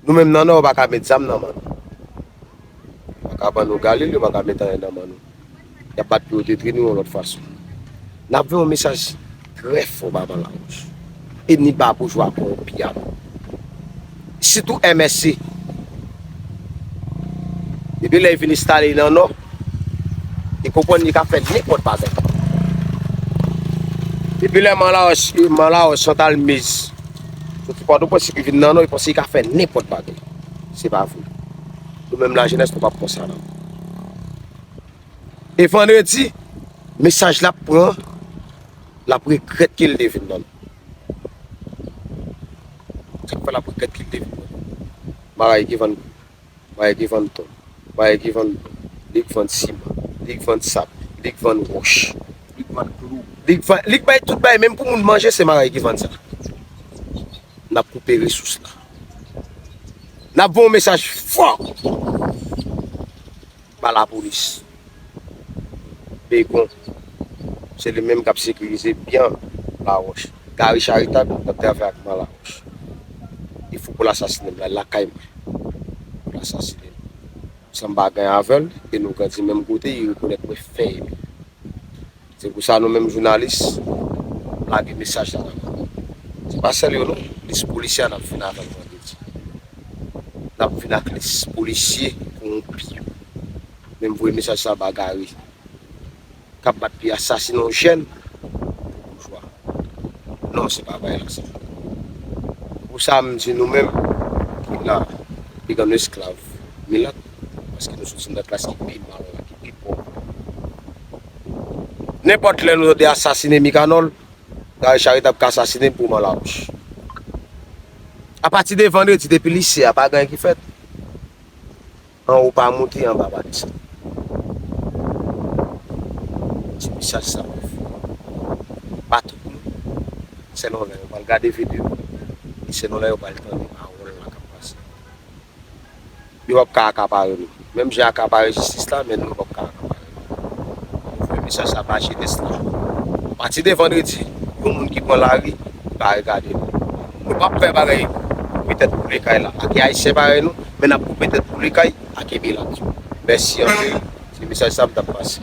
Nou menm nan nò yo paka met zam nan man nou yo paka ban nou galil yo paka met anyen nan man nou yap bat pou yo detri nou yon lòt fason nap voye yon mesaj trè fò ba van lawouch e ni ba boujwa kowonpi ya nou sitou MSC depi lè vin estale nan nò li konprann li ka fè nenpòt bagay depi lè man lawouch man lawouch santalmiz. Soti pòtoprens epi vin nan nò yo panse yo ka fè nenpòt bagay se pa vre nou menm lajenès nou pap konsa nan e vandredi mesaj lap pran lap regrèt kel te vin nan se sak fè lap regrèt kel te vin nan maray ki vann kou. Bagay ki vann ton. Bagay ki vann blo. Li k vann siman. Li k vann sab. Li k vann wòch. Li k vann klou. Li k vann, li k bay tout bagay menm pou moun manje se bagay ki vann sa. N ap koupe resous la. N ap voye yon mesaj fò. pa lapolis. Begon, se li menm k ap sekirize byan Lawòch. Gari Charitab ap travay ak man Lawòch. Li fou pou l asasine m. L al lakay mwen pou l asasine m. San m pa gen avè l e nou grandi menm kote, li rekonèt mwen fè ede l. Se pou sa nou menm jounalis lage mesaj la nan kò moun. Se pa sèl yo non, lis polisye a nap vin avè l vandredi. Nap vin ak lis polisye kowonpi yo. Men m voye mesaj sa ba Garry kap bat pi asasine yon jèn pou boujwa. Non se pa bay la sa. Se pou sa m di nou menm ki la pi gran esklav milat. paske nou soti nan klas ki pi mal la, ki pi pòv la. Nenpòt lè nou tande asasine Mikanòl, Gary Charest ap ka asasine m pou Oman Lawouch. Apati de vandredi, depi lise a, pa gen anyen ki fèt. Anwo pa moute, anba pa desann. Ti mesaj sa mwen fè yo, pa tout moun, selon lè yo pral gade video, e selon lè yo pral tande pawòl la k ap pase. Yo pap ka akapare nou. Menm jan akapare jistis la, men nou yo pap ka akapare nou. An nou voye mesaj sa ba jenès la. A pati de vandredi, yon moun ki pran lari, li pa regade nou. Nou pap fè bagay koupe tèt boule kay la ake ayisyen parèy nou, men nap koupe tèt boule kay ake milat yo. Mèsi anpil. Se mesaj sa m tap pase.